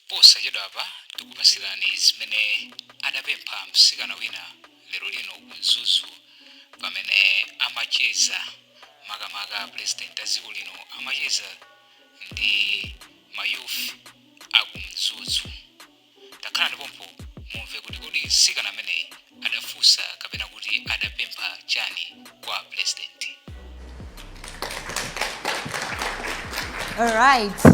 Posachedwapa tikupatsirani zimene adapempha mtsikana wina lero lino ku Mzuzu pamene amacheza makamaka a Pulezidenti a dziko lino amacheza ndi ma youth a ku Mzuzu. Takhalani pompho mumve kuti kodi mtsikana ameneyi adafunsa kapena kuti adapempha chani kwa pulezidenti alright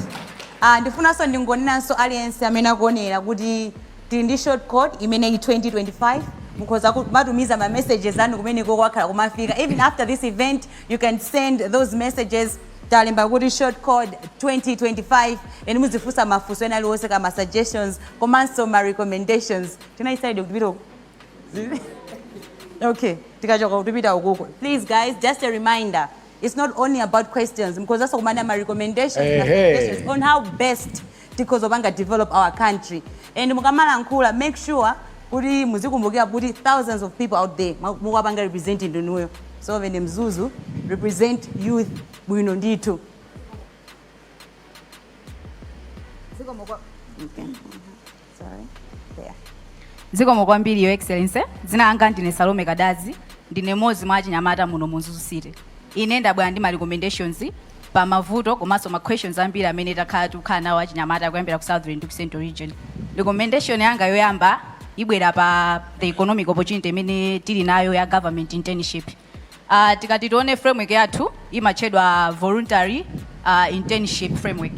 uh, ndifunanso ndingonenanso kwa aliyense amene akuonera kuti tili ndi short code imene i 2025 mukhoza kumatumiza ma messages anu kumeneko akhala kumafika even after this event you can send those messages talemba kuti short code 2025 and muzifunsa mafunso ena aliwonse kaya ma suggestions komanso ma recommendations tinali side kutipita uku okay tikachoka kutipita ukuko please guys just a reminder it's not only about questions mukhozaso kumanena ma recommendations na Ehe. suggestions on how best tikhoza kupanga develop our country and mukamalankhula make sure kuti muzikumbukira kuti thousands of people out there ma- mukuwapanga represent ndinuyo so vene mzuzu represent youth bwino ndithu Zikomo kwa- okay. zikomo kwambiri your excellency dzina langa ndine salome kadazi ndine mmodzi mwa achinyamata muno mu mzuzu city ine ndabwera ndi ma recommendations pa mavuto komanso ma questions ambiri amene takhala tikukhala nawo achinyamata kuyambira ku southern ndi ku central region recommendation yanga yoyamba ibwera pa the economic opportunity imene tili nayo ya government internship Uh, tikati tione framework yathu imatchedwa voluntary uh, internship framework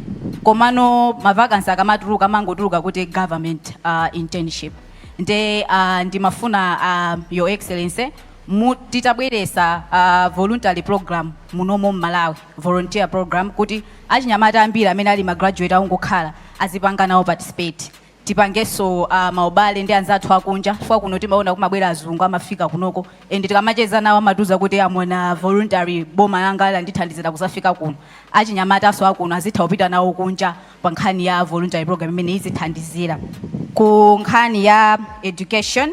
komano mavakansi akamatuluka amangotuluka kuti government uh, internship nde uh, ndimafuna uh, your excellency mu- titabweresa uh, voluntary program munomo mmalawi volunteer program kuti achinyamata ambiri amene ali magraduate akungokhala azipanga nawo participate tipangeso a maubale ndi anzathu akunja chifukwa kuno timaona kumabwera azungu amafika kunoko and tikamacheza nawo amatiuza kuti am on a voluntary boma langa landithandizira kuzafika kuno achinyamataso akuno azitha kupita nawo kunja pa nkhani ya voluntary program imene izithandizira ku nkhani ya education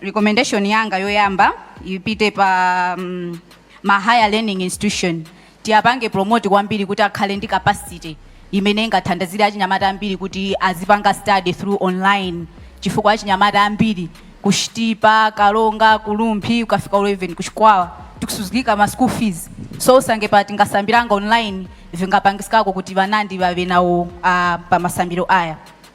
recommendation yanga yoyamba ipite pa mm, ma higher learning institution tiyapange promote kwambiri kuti akhale ndi capacity imene ingathandizire achinyamata ambiri kuti azipanga study through online chifukwa achinyamata ambiri ku chitipa karonga ku rumphi ukafika uko even ku chikwawa tikusuzgikika ma school fees so usange pa tingasambiranga online vingapangisikako kuti wanandi wawe nawo uh, pa masambiro aya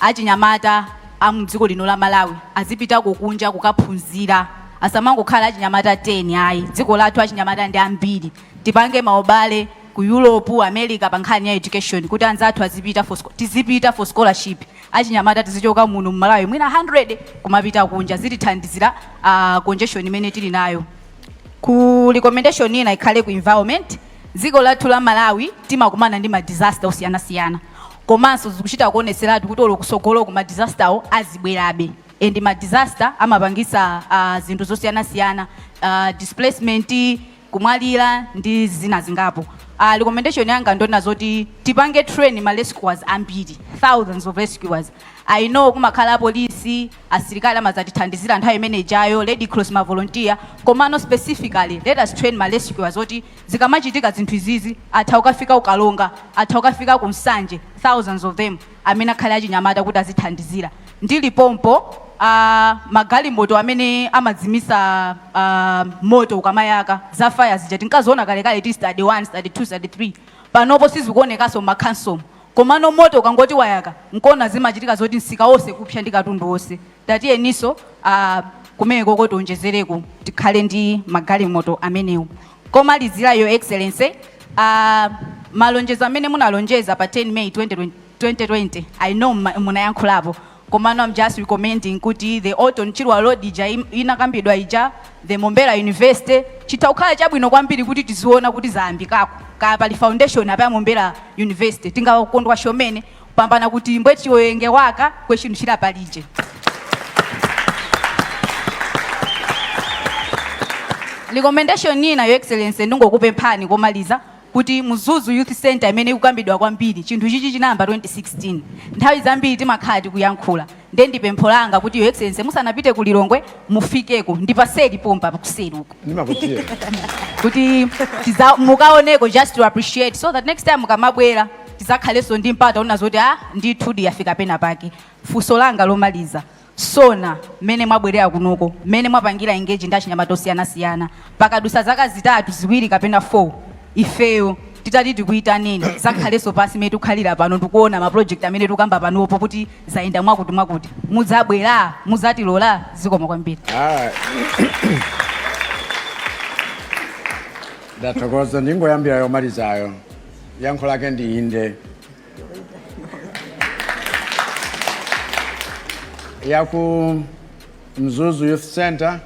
achinyamata a mdziko lino la Malawi azipitako kunja kukaphunzira asamangokhala achinyamata 10 ayi dziko lathu achinyamata ndi ambiri tipange maubale ku Europe, America pa nkhani ya education kuti anzathu azipita for, scho- tizipita for scholarship achinyamata tizichoka muno mu Malawi mwina 100 kumapita kunja zitithandizira uh congestion imene tili nayo ku recommendation ina ikhale ku environment Dziko lathu la Malawi timakumana ndi ma disaster osiyanasiyana komanso zikuchita kuonetseratu kuti olo kusogoloku ma disaster wo azibwerabe and ma disaster amapangisa uh, zinthu zosiyanasiyana uh, displacement kumwalira ndi zina zingapo uh, recommendation yanga ndona zoti tipange train ma rescuers ambiri thousands of rescuers i know kumakhala apolisi asilikali amadzatithandizira nthawi imene ijayo, red cross ma volunteer, komano specifically let us train ma rescuers zoti zikamachitika zinthu izizi atha kukafika ku karonga, atha kukafika ku nsanje, thousands of them amene akhale achinyamata kuti azithandizira. Ndili pompo magalimoto amene amazimitsa moto ukamayaka za fire zija tinkaziona kalekale tili standard 1, standard 2, standard 3 panopo sizikuonekaso mma khansomu. Komano moto ukangoti wayaka nkona zimachitika zoti msika onse kupsa ndi katundu onse tatiyeniso aah kumenekoko tionjezereko tikhale ndi magalimoto amenewo. Komalizira your excellency aah malonjezo amene munalonjeza pa 10 May 2020 I know munayankhulapo Komano am just recommending kuti the Orton Chirwa road ija inakambidwa ija, the Mombera University, chitha kukhala chabwino kwambiri kuti tiziona kuti zayambikako. Kaya pali foundation apa ya Mombera University tingakondwa chomene kupambana kuti mbwe chiwenge waka kwe chinthu chira palije. Recommendation ina Your Excellency ndingokupemphani komaliza kuti Mzuzu Youth Centre imene ikukambidwa kwambiri, chinthu ichichi chinayamba 2016. Nthawi zambiri timakhala tikuyankhula nde ndi pempho langa kuti Your Excellency musanapite ku Lilongwe mufikeko ndi paseli pompa kuseli uko Ndimakudziwa. kuti tiza- mukaoneko just to appreciate so that next time mukamabwera tizakhalenso ndi mpata oona zoti ah ndithudi yafika pena pake funso langa lomaliza Sona, mmene mwabwelera kunoko, mmene mwapangila engage ndi achinyamata osiyana siyana, pakadutsa zaka zitatu, ziwiri kapena 4 ifeyo titati tikuitaneni tizakhaleso pansi mmene tikukhalira pano ndikuona ma project amene tikukamba panopo kuti zayenda mwakuti mwakuti, mudzabwera? Mudzatilola? Zikomo kwambiri. Ndathokoza. Ndingoyambira yomalizayo. Yankho lake ndi inde. ya ku mzuzu youth center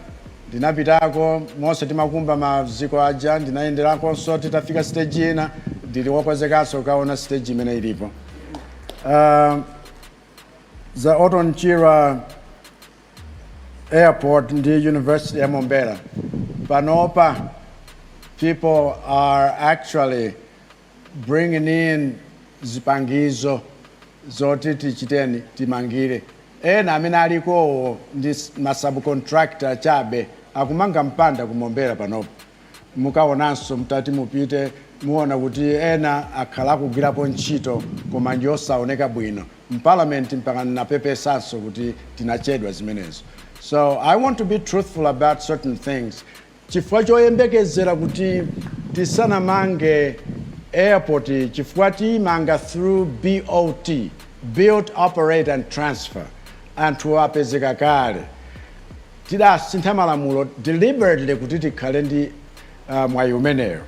ndinapitako monse timakumba maziko aja ndinayenderakonso titafika stage ina ndili wokonzekanso kukaona stage imene ilipo uh, za Orton Chirwa airport ndi university ya mombera panopa people are actually bringing in zipangizo zoti tichiteni timangire. Ena amene alikowo ndi s- ma subcontractor chabe akumanga mpanda ku Mombera panopa. Mukaonanso mtati mupite muwona kuti ena akhala akugwirapo ntchito koma ndi yosaoneka bwino. M'parliament mpaka ndinapepesanso kuti tinachedwa zimenezo. So I want to be truthful about certain things. Chifukwa choyembekezera kuti tisanamange airport chifukwa tiimanga through BOT, Build Operate and Transfer, anthu apezeka kale. Tidasintha malamulo deliberately kuti tikhale ndi mwayi umenewo.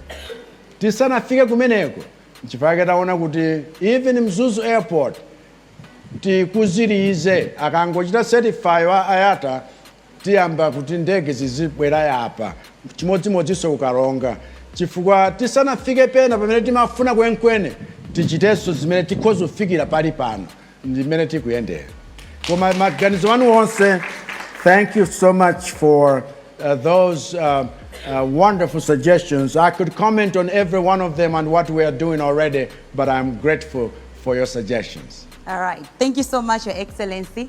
Tisanafike kumeneko nchifukwa chake taona kuti even Mzuzu Airport tikonzetse akangochita certify wa IATA. tiyamba kuti ndege zizibwera yapa chimodzimodzinso ku karonga chifukwa tisanafike pena pamene timafuna kwenikweni tichitenso zimene tikhoza kufikira pali pano ndi mmene tikuyendera koma maganizo anu onse thank you so much for uh, those uh, uh, wonderful suggestions i could comment on every one of them and what we are doing already but i'm grateful for your suggestions All right. Thank you so much, Your Excellency.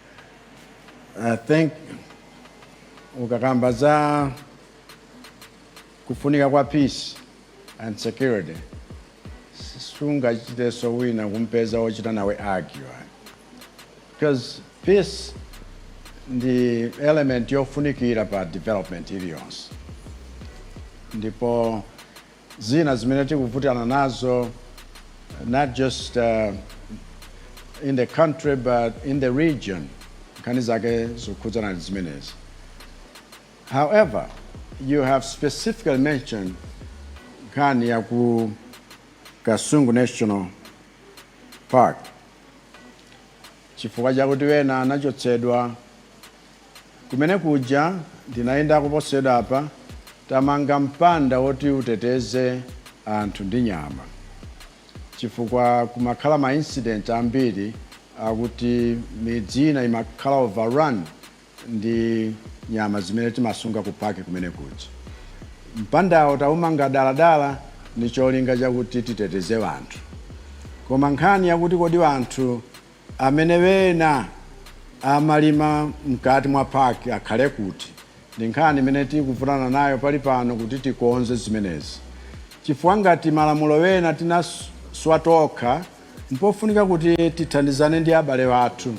I think ukakamba za kufunika kwa peace and security sungachitenso wina kumpeza wochita nawe argue because peace ndi element yofunikira pa development iliyonse ndipo zina zimene tikuvutikana nazo not just in the country but in the region nkhani zake zokhudzana ndi zimenezi however you have specifically mentioned nkhani ya ku kasungu national park chifukwa chakuti wena anachotsedwa Kumene kuja ndinayendako posachedwapa, tamanga mpanda woti uteteze anthu ndi nyama chifukwa kumakhala ma incident ambiri akuti midzi ina imakhala overrun ndi nyama zimene timasunga ku park kumene kuja. Mpandawo taumanga dala dala ndi cholinga chakuti titeteze wanthu. Koma nkhani yakuti kodi wanthu Amene wena amalima mkati mwa park akhale kuti? Ndi nkhani imene tikuvutana nayo pali pano kuti tikonze zimenezi chifukwa ngati malamulo wena tinaswa tokha mpofunika kuti tithandizane ndi abale wathu.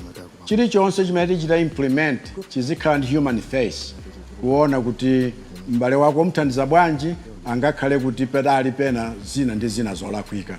Chilichonse chimene tichita implement chizikhala ndi human face kuona kuti m'bale wako umthandiza bwanji, angakhale kuti padali pena zina ndi zina zolakwika.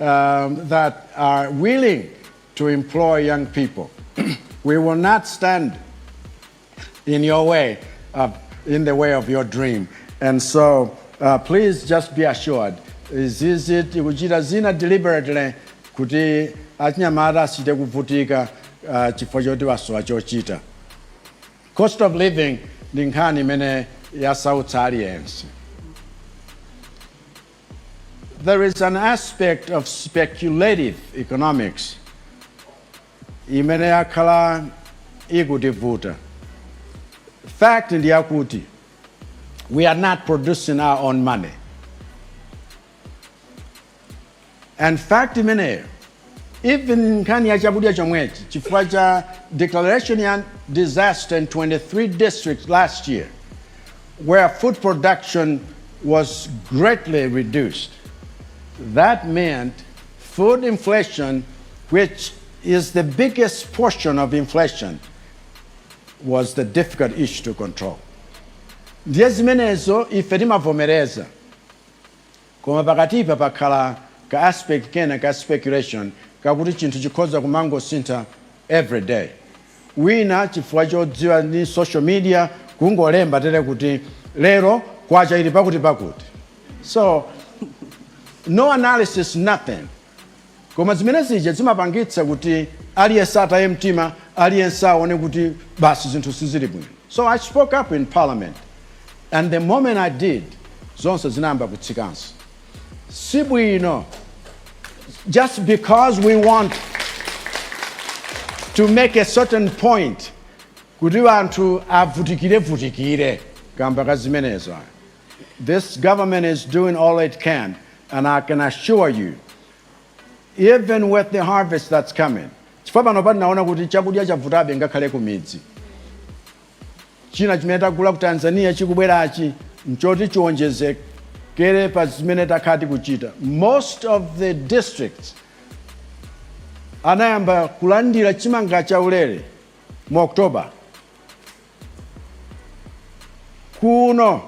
um, that are willing to employ young people. we will not stand in your way, uh, in the way of your dream. And so uh, please just be assured, sitikuchita zina deliberately kuti achinyamata aziti kuvutika uh, chifukwa choti wasowa chochita. Cost of living ndi nkhani imene yasautsa aliyense. There is an aspect of speculative economics imene yakhala ikutivuta. Fact ndi yakuti we are not producing our own money. And fact imeneyo Even nkhani ya chakudya chomwechi chifukwa cha declaration ya disaster in 23 districts last year where food production was greatly reduced that meant food inflation which is the biggest portion of inflation was the difficult issue to control. Ndiye zimenezo ife timavomereza. Koma pakatipa pakhala ka aspect kena ka speculation kakuti chinthu chikhoza kumangosintha every day. Wina chifukwa chodziwa ndi social media kungolemba tere kuti lero kwacha ili pakuti pakuti. So no analysis nothing. Koma zimene zija zimapangitsa kuti aliyense ataye mtima, aliyense aone kuti basi zinthu sizili bwino. So I spoke up in parliament and the moment I did zonse zinayamba kutsikanso. Si bwino just because we want to make a certain point kuti wanthu avutikirevutikire kamba ka zimenezo ayi. This government is doing all it can, and I can assure you, even with the harvest that's coming, chifukwa pano tinaona kuti chakudya chavutabe ngakhale ku midzi china chimene tagula ku tanzania chikubwerachi nchoti chiwonjezekere pa zimene takhala tikuchita most of the districts anayamba kulandira chimanga chaulere mu october Kuno,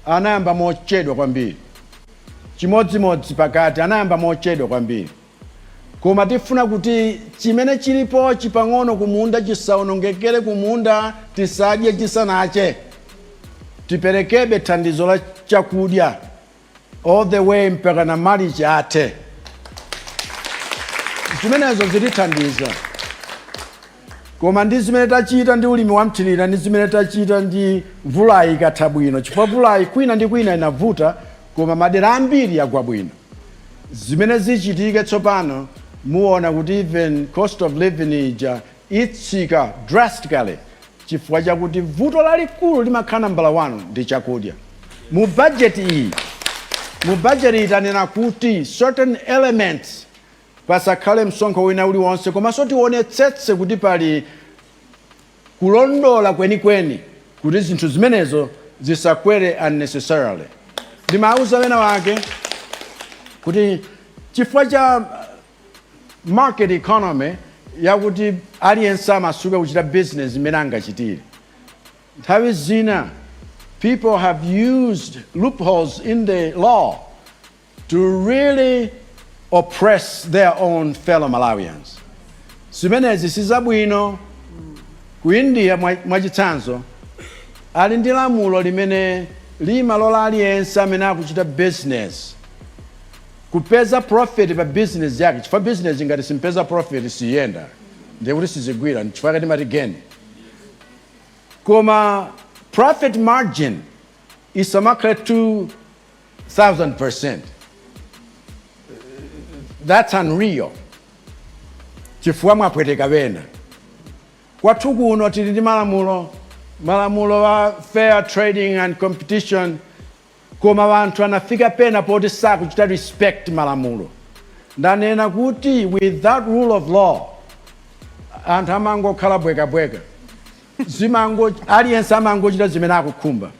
anayamba mochedwa kwambiri. Chimodzimodzi pakati, anayamba mochedwa kwambiri. Koma tifuna kuti chimene chilipo chapang'ono kumunda chisaonongekere kumunda tisadye chisanache. Tiperekebe thandizo la chakudya all the way mpakana March athe. Zimenezo zitithandiza. Koma ndi zimene tachita ndi ulimi wamthirira ndi zimene tachita ndi mvulayi ikatha bwino chifukwa mvulayi kwina ndi kwina inavuta koma madera ambiri yagwa bwino. Zimene zichitike tsopano muona kuti even cost of living ija itsika drastically chifukwa chakuti vuto lalikulu limakhala nambala 1 ndi chakudya. Mu budget iyi, mu budget iyi tanena kuti certain elements pasakhale msonkho wina uliwonse komanso tionetsetse kuti pali kulondola kwenikweni kuti zinthu zimenezo zisakwere unnecessarily. Ndimauza wena wake kuti chifukwa cha. Market economy yakuti aliyense amasuke kuchita business mmene angachitire. Nthawi zina people have used loopholes in the law to really oppress their own fellow Malawians. Zimenezi sizabwino. Ku India mwachitsanzo ali ndi lamulo limene limalola aliyense amene akuchita business Kupeza profit pa business yake chifukwa business ngati siipeza profit siyenda ndiye kuti sizigwira nchifukwa chake timati geni koma profit margin isamakhale 2000% that's unreal chifukwa mwapweteka ena kwathu kuno tili ndi malamulo malamulo a fair trading and competition Koma anthu anafika pena poti sakuchita respect malamulo. Ndanena kuti without rule of law anthu amangokhala bweka bweka. Aliyense amangochita zimene akukhumba.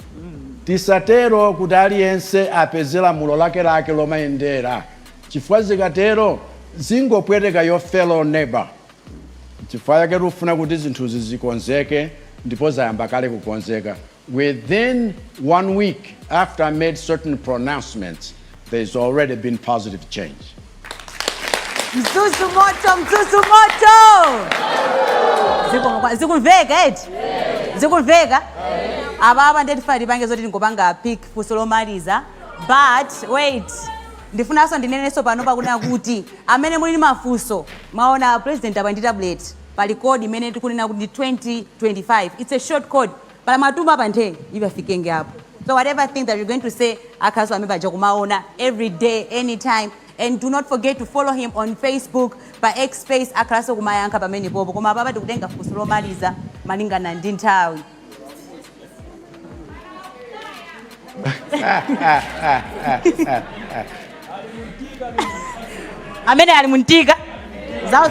Tisatero kuti aliyense apeze lamulo lake lake lomayendera chifukwa zikatero zingopweteka your fellow neighbour. Nchifukwa chake tikufuna kuti zinthuzi zikonzeke ndipo zayamba kale kukonzeka. Within one week after I made certain pronouncements, there's already been positive change. Mzuzu moto, mzuzu moto. Ziku- Zikumveka eti? Zikumveka? Apapa ndi tifuna tipange zoti ndikupanga pick funso lomaliza. But wait. Ndifunanso ndinenenso pano pakunena kuti amene muli ndi mafunso mwaona president apa ali ndi tablet pali code imene tikunena kuti ndi 2025. It's a short code. Pala mwatuma apa nthe ipafikenge apo. So whatever thing that you're going to say akhalanso amene paja kumaona every day anytime and do not forget to follow him on Facebook pa X space akhalanso kumayankha pamenepopo koma apapa tikutenga funso lomaliza malingana ndi nthawi. amene ali mumtima mwawo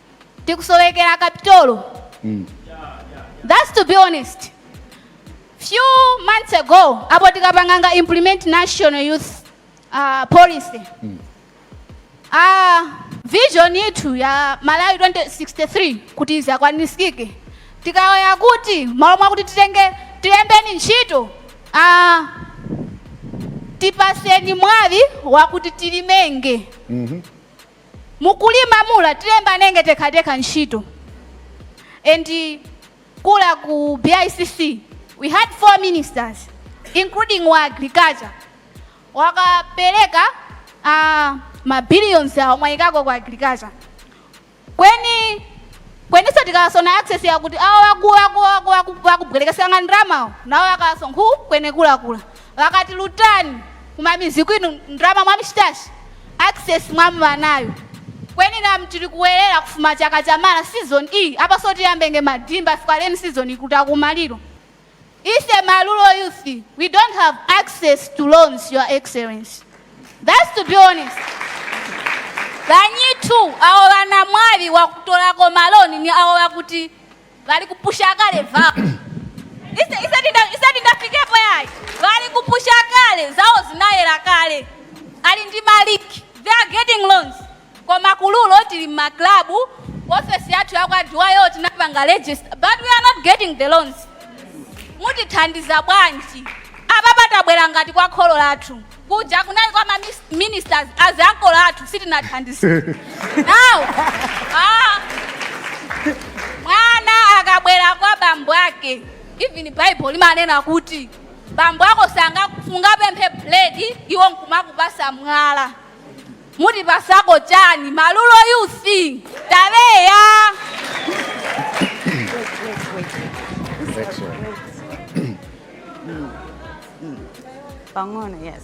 tikusowekera kapitolo mm. thats to be honest few months ago apo tikapanganga implement national youth uh, policy mm. uh, vision yithu ya malawi 2063 kuti izakwanisike tikawoya kuti malo mwakuti titenge tilembeni ntchito uh, tipaseni mwawi wakuti tilimenge mm -hmm. Mukulima mula tilembanenge tekhatekha ntchito and kula ku BICC we had 4 ministers including wa agriculture wakapeleka ma billions awo mwayikako ku agriculture kweni kweniso tikawaso na access yakuti awo waku waku waku waku wakubwelekesanga ndramawo nawo wakawaso nkhu kwenekula kula Vakati lutani kumamizi kwinu ndrama mwamshitashi access mwamva nayo kweni nam tili kuwerera kufuma chaka chamara season ii apaso tiyambe nge madhimba fikwa rain season ikuta kumaliro ise ma rural youth we don't have access to loans your excellency thats to be honest banyitu awo banamwali wakutorako maloni ni awo bakuti Bali kupusha kale vap. Ise ise tinda ise tindafikepo yai. Vali kupusha kale zawo zinayela kale. Ali ndi maliki. They are getting loans. Koma kuliko tili ma club office yathu yakwa Duwayo tinapanga register but we are not getting the loans. Mutithandiza bwanji? Apapa tabwera ngati kwa kholo lathu. Kuja kunali kwa ma mis- ministers aziankolo athu sitinathandizike. Now, ah, mwana akabwera kwa bambo ake even bible limanena kuti bambo ako sanga- sungapemphe buledi iwo nkumakupasa mwala mutipasako chani malulo you sing tabeya pang'ono yes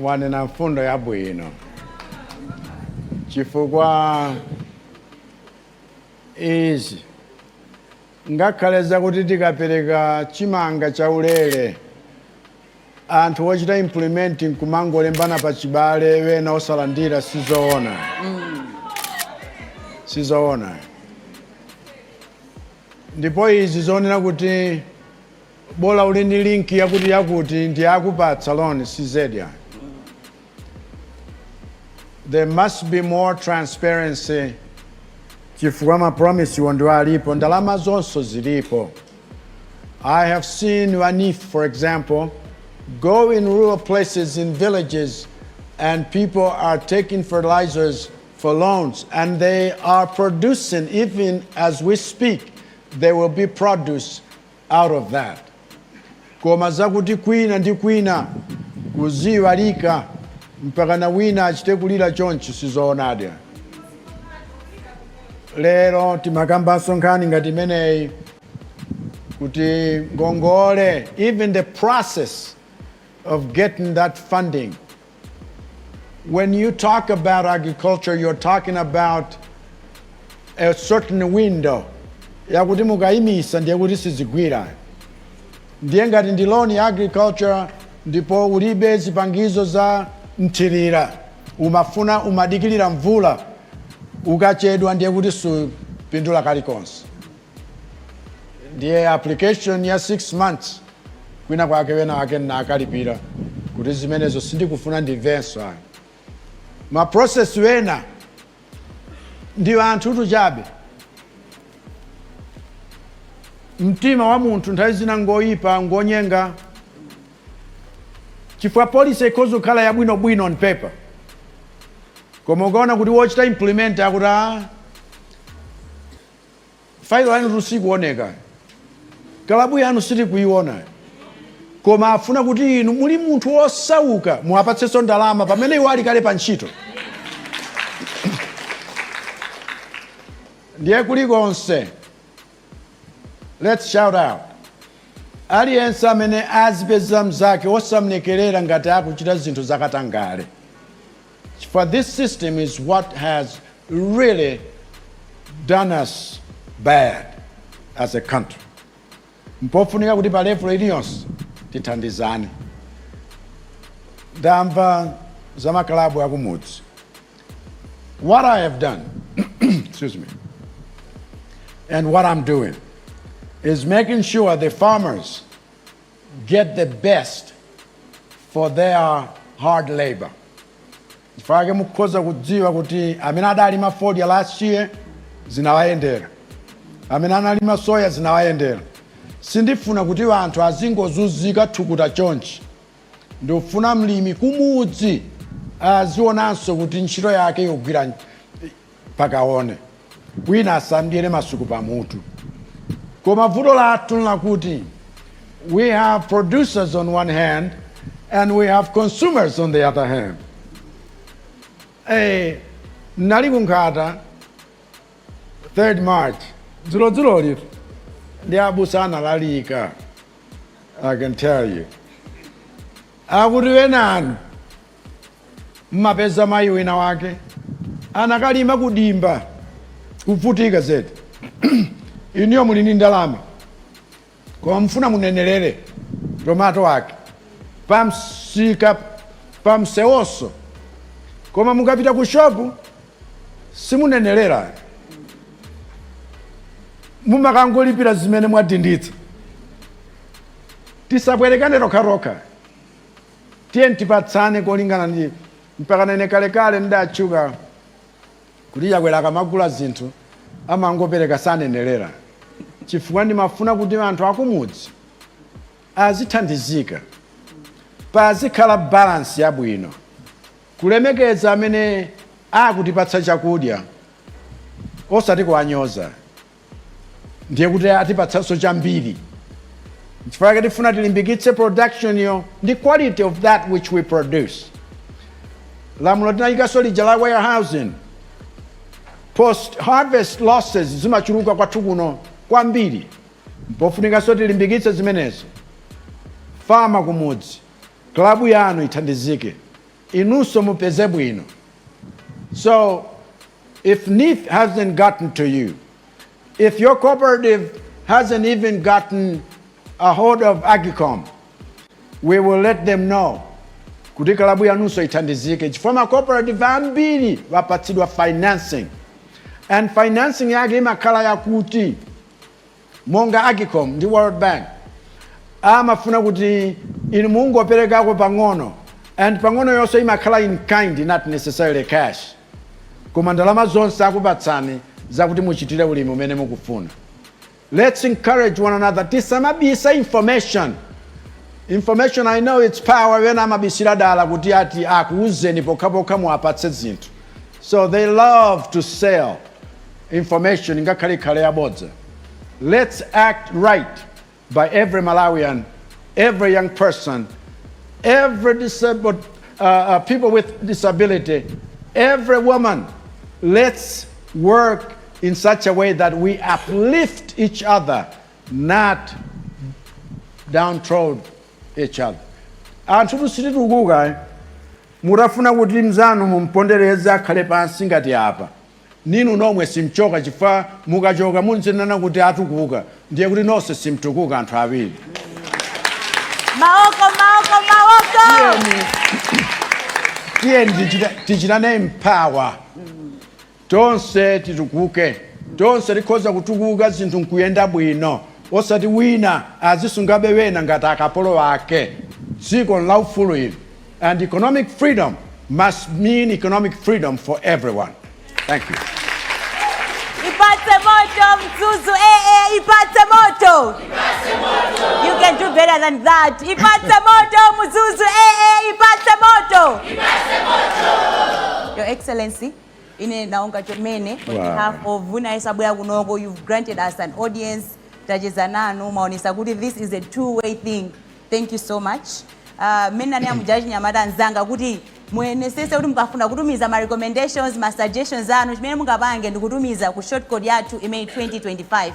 wanena mfundo yabwino chifukwa izi ngakhale zakuti tikapereka chimanga chaulere anthu ochita implement nkumangolembana pa chibale ena osalandira sizoona sizoona ndipo izi zonena kuti bola uli ndi link yakuti yakuti ndiye akupatsa loan cz ayi there must be more transparency chifukwa ma promise wo ndiwo alipo ndalama zonso zilipo i have seen wanif for example go in rural places in villages and people are taking fertilizers for loans and they are producing even as we speak there will be produce out of that. Koma zakuti kwina ndi kwina kuziiwalika mpakana wina achite kulira chonchi sizoonadi ayi. Lero timakambanso nkhani ngati imeneyi kuti ngongole even the process of getting that funding When you talk about agriculture, you're talking about a certain window yakuti mukayimisa ndiye kuti sizigwira ndiye ngati ndi loan ya agriculture ndipo ulibe zipangizo za mthirira umafuna umadikirira mvula ukachedwa ndiye kuti supindula kalikonse ndiye application ya 6 months kwina kwake wena wake nnakalipira kuti zimenezo sindikufuna ndimvenso ayi ma process wena ndi anthutu chabe mtima wa munthu nthawi zina ngoyipa ngonyenga chifukwa policy ikhoza kukhala yabwinobwino on paper koma ukaona kuti wochita implement akuti "Ah, failo yanutu sikuoneka kalabu yanu sitikuiona koma afuna kuti inu muli munthu wosauka muwapatsenso ndalama pamene iwo ali kale pa ntchito ndiye kulikonse let's shout out aliyense amene azipeza mzake osamlekerera ngati akuchita zinthu zakatangale For this system is what has really done us bad as a country. Mpofunika kuti pa level iliyonse tithandizane. Ndamva za makalabu akumudzi. What I have done, excuse me, and what I'm doing is making sure the farmers get the best for their hard labor chifukwa chake mukhoza kudziwa kuti amene adalima fodya last year zinawayendera amene analima soya zinawayendera sindifuna kuti anthu azingozunzika thukuta chonchi ndikufuna mlimi kumudzi azionanso kuti ntchito yake yogwira mpaka 1 wina asamdyere masuku pa mutu koma vuto lathu nlakuti we have producers on one hand and we have consumers on the other hand eh, nali ku Nkhata 3rd March dzulodzulolitu ndi abusa analalika i can tell you akuti wenanu mmapeza mayi wina wake anakalima ku dimba kuvutika zedi inuyo muli ndi ndalama koma mufuna munenelere tomato ake pamsika pamsewoso koma mukapita ku shopu simunenelera mumakangolipira zimene mwadinditsa tisabwerekane tokhatokha Tiyeni tipatsane kolingana ndi mpakana. Ine kalekale ndidatchuka kuti Chakwera akamagula zinthu amangopereka sanenelera chifukwa ndimafuna kuti anthu akumudzi azithandizika pazikhala balance yabwino kulemekeza amene akutipatsa chakudya osati kuwanyoza. ndiye kuti atipatsanso chambiri nchifukwa chake tifuna tilimbikitse production yo ndi quality of that which we produce lamulo tinayikanso lija la warehousing post harvest losses zimachuluka kwathu kuno kwambiri mpofunikanso tilimbikitse zimenezo farmer kumudzi klabu yanu ithandizike inunso mupeze bwino so if neef hasn't gotten to you if your cooperative hasn't even gotten a hold of agcom we will let them know kuti kalabu yanunso ithandizike chifukwa ma cooperative ambiri apatsidwa financing and financing yake imakhala yakuti monga Agcom ndi World Bank amafuna kuti inu mungoperekako pang'ono and pang'onoyonso imakhala in kind not necessarily cash koma ndalama zonse akupatsani zakuti muchitire ulimi umene mukufuna. Lets encourage one another tisamabise information. Information I know its power ena amabisira dala kuti ati akuuzeni pokhapokha muwapatse zinthu so they love to sell information ingakhale ikhale yabodza lets act right by every malawian every young person every disabled uh, uh, people with disability every woman lets work in such a way that we uplift each other not downtrod each other anthu tu sititukuka mutafuna kuti mzanu mumpondereze akhale pansi ngati apa Ninu omwe simchoka chifukwa mukachoka mnzanu uja atukuka ndiye kuti nonse simtukuka anthu awiri. Mawoko mawoko mawoko. Tiyeni tichitane empower tonse titukuke tonse tikhoza kutukuka zinthu nkuyenda bwino osati wina azisungabe wena ngati akapolo ake dziko nlaufulu ili and economic freedom must mean economic freedom for everyone. Thank you. Ipatse moto Mzuzu eh eh ipatse moto. Ipatse moto. You can do better than that. Ipatse moto Mzuzu eh eh ipatse moto. Ipatse moto. Your Excellency ine naonga chomene on wow. behalf of Vuna Isabwera Kunoko you've granted us an audience tacheza nanu maonesa kuti this is a two way thing thank you so much mmene uh, nanena muja achinyamata anzanga kuti muyesetse kuti mukafuna kutumiza ma recommendations ma suggestions anu chimene mungapange ndikutumiza ku shortcode yathu imene 2025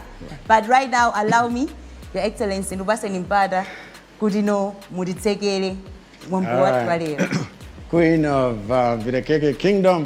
but right now allow me your excellency ndikupatseni mpata kuti no mutitsekere mwambo wathu wa lero queen of uh, vilekeke kingdom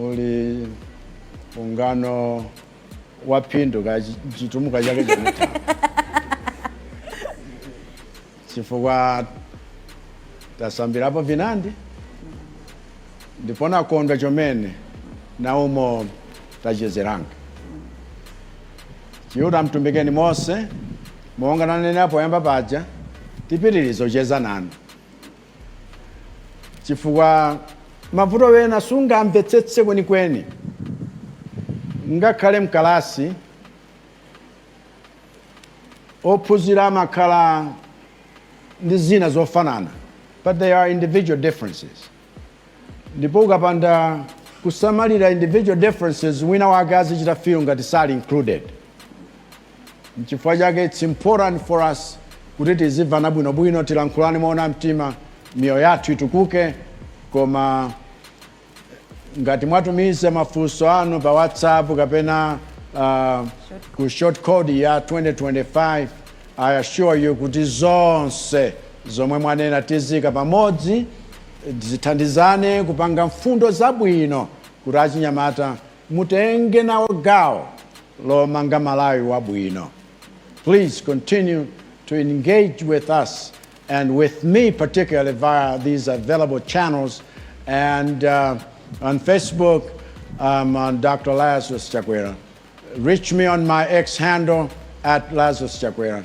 uli ungano wa phindu ka Chitumbuka chake chomene chifukwa tasambirapo vinandi ndipo nakondwa chomene naumo tachezeranga Chiuta mtumbikeni mose monga nanenapo poyamba paja tipitirize kucheza nanu chifukwa mavuto ena sungamvetsetse kwenikweni ngakhale mkalasi ophunzira amakhala ndi zina zofanana but there are individual differences Ndipo ukapanda kusamalira individual differences wina wake azichita feel ngati sali included. Nchifukwa chake it's important for us kuti tizimvana bwinobwino, tilankhulane moona mtima, miyoyo yathu itukuke. Koma ngati mwatumiza mafunso anu pa WhatsApp kapena uh, ku short code ya 2025 I assure you kuti zonse zomwe mwanena tiziika pamodzi Tithandizane kupanga mfundo zabwino kuti achinyamata mutenge nawo gawo lomanga Malawi wabwino. Please continue to engage with us and with me particularly via these available channels and uh, on Facebook um, on Dr. Lazarus Chakwera. Reach me on my X handle at Lazarus Chakwera.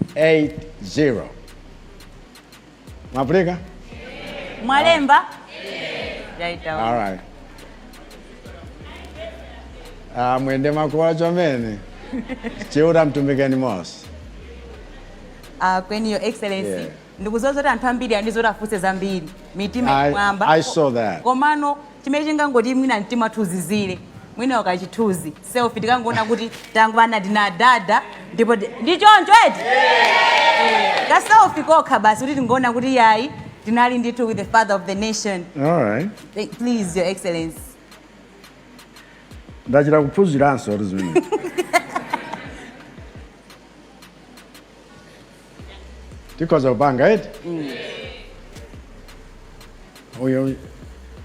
999552280 mwapulika mwalemba yaitaona alright ah, mwende makuwa chomene chiuta mtumikeni mose Uh, kweni your excellency Yeah. Ndikudziwa zoti anthu ambiri ali ndi zoti afunse zambiri, mitima ili I- mwamba. I saw that. Komano chimene chingangoti mwina mtima wathu uzizire, mwina kachithuzi selfie tikangoona kuti tangwana na dada ndipo ti- ndi choncho eti Eh, ka selfie kokha basi kuti tingoona kuti yayi tinali ndithu with the father of the nation. All right. Eh, Please your excellency. Ndachita kuphunziranso kuti zimene. tikhoza kupanga eti uyo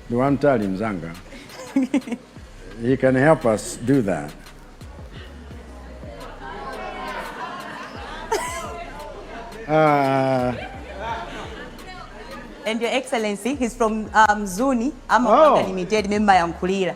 ndi wamtali mzanga he can help us do that Ah, and your excellency he's from um, zuni amapanga Oh. limited mumayankhulira